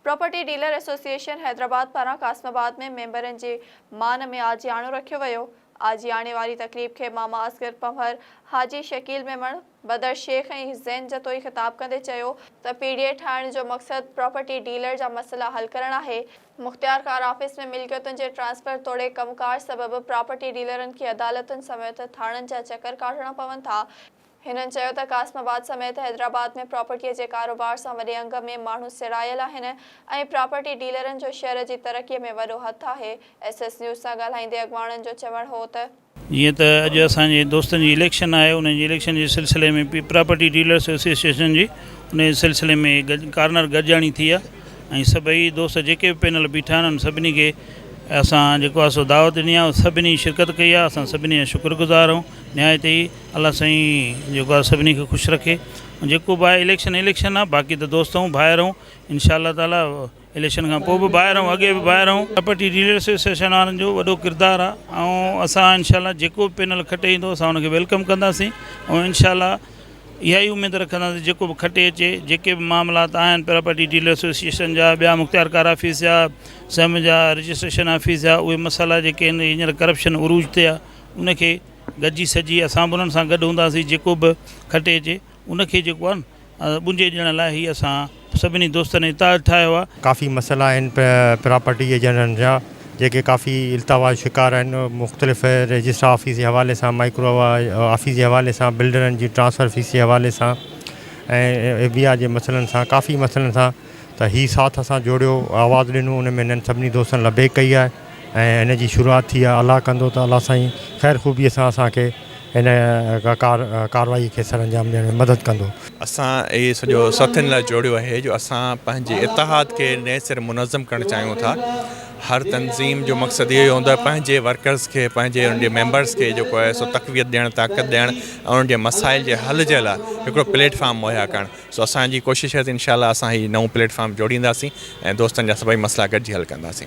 Property dealer association Hyderabad پاران Qasimabad ۾ ميمبرن جي مان ۾ آجياڻو رکيو ويو، آجياڻي واري تقريب کي ماما اصغر پنهور، حاجي شڪيل ميمڻ، بدر شيخ ۽ حسين جتوئي خطاب ڪندي چيو ته پي ڊي اي ٺاهڻ جو مقصد پراپرٽي ڊيلر جا مسئلا حل ڪرڻ آهي، مختيارڪار آفيس ۾ ملڪيتن جي ٽرانسفر توڙي ڪم ڪار سبب پراپرٽي ڊيلرن کي عدالتن سميت ٿاڻن جا چڪر ڪاٽڻا پون ٿا، هنن چيو ته قاسم آباد سميت حيدرآباد ۾ پراپرٽيء جي ڪاروبار سان وڏي انگ ۾ ماڻهو سيڙايل آهن ۽ پراپرٽي ڊيلرن جو شهر جي ترقيء ۾ وڏو هٿ آهي. ايس ايس نيوز سان ڳالهائيندي اڳواڻن جو چوڻ هو ته. جيئن ته اڄ اسان جي دوستن جي اليڪشن آهي انهن جي اليڪشن جي سلسلي ۾ پراپرٽي ڊيلرس ايسوسيئيشن جي انهي سلسلي ۾ ڪارنر گڏجاڻي ٿي آهي ۽ سڀئي دوست جيڪي به پينل بيٺا آهن انهن سڀني کي اسان جيڪو آهي سو دعوت ڏني آهي سڀني شرڪت ڪئي آهي اسان سڀني جا شڪر گذار آهيون نهايت ئي الله سائين جيڪو آ سڀني کي خوش رکي ۽ جيڪو به آ اليڪشن اليڪشن آ باقي ته دوست آهون ڀائر آهون انشاء الله تعالي اليڪشن کان پوء به ڀائر آهون اڳي به ڀائر آهون پراپرٽي ڊيلر ايسوسيئيشن وارن جو وڏو ڪردار آ ۽ اسان انشاء الله جيڪو به پينل کٽي ايندو اسان ان کي ويلڪم ڪنداسين ۽ انشاء الله اها ئي اميد رکنداسين جيڪو به کٽي اچي جيڪي به معاملات آهن پراپرٽي ڊيلر ايسوسيئيشن جا ٻيا مختيار ڪار آفيس جا سم جا رجسٽريشن آفيس جا اهي مسئلا جيڪي آهن هينئر ڪرپشن عروج تي آ ان کي گڏجي سھجي اسان به انھن سان گڏ ھونداسين جيڪو به کٽي اچي ان کي جيڪو آھي نه ٻنجي ڏيڻ لاء ھي اسان سڀني دوستن اتحاد ٺاھيو آھي. ڪافي مسئلا آھن پراپرٽي ايجنٽن جا جيڪي ڪافي التوا جو شڪار آھن مختلف رجسٽرار آفيس جي حوالي سان مائڪرو آفيس جي حوالي سان بلڊرن جي ٽرانسفر فيس جي حوالي سان ۽ ايف بي آر جي مسئلن سان ڪافي مسئلن سان ته ھي ساٿ اسان جوڙيو آواز ڏنو ان ۾ ھنن سڀني دوستن لبيڪ ڪئي آھي. ۽ ان جي شروعات ٿي آ الله ڪندو ته الله سائين خير خوبي سان اسان کي ان ڪار ڪاروائي کي سر انجام ڏيڻ ۾ مدد ڪندو. اسان اهي سڄو ساٿين لاء جوڙيو آهي جو اسان پنهنجي اتحاد کي نئين سر منظم ڪرڻ چاهيون ٿا هر تنظيم جو مقصد اهو ئي هوندو آهي پنهنجي ورڪرز کي پنهنجي انهن جي ميمبرز کي جيڪو آهي سو تقويت ڏيڻ طاقت ڏيڻ ۽ انهن جي مسائل جي حل جي لاء هڪڙو پليٽ فارم مهيا ڪرڻ سو اسان جي ڪوشش رهي ته انشاء الله اسان هي نئون پليٽ فارم جوڙينداسين ۽ دوستن جا سڀئي مسئلا گڏجي حل ڪنداسين.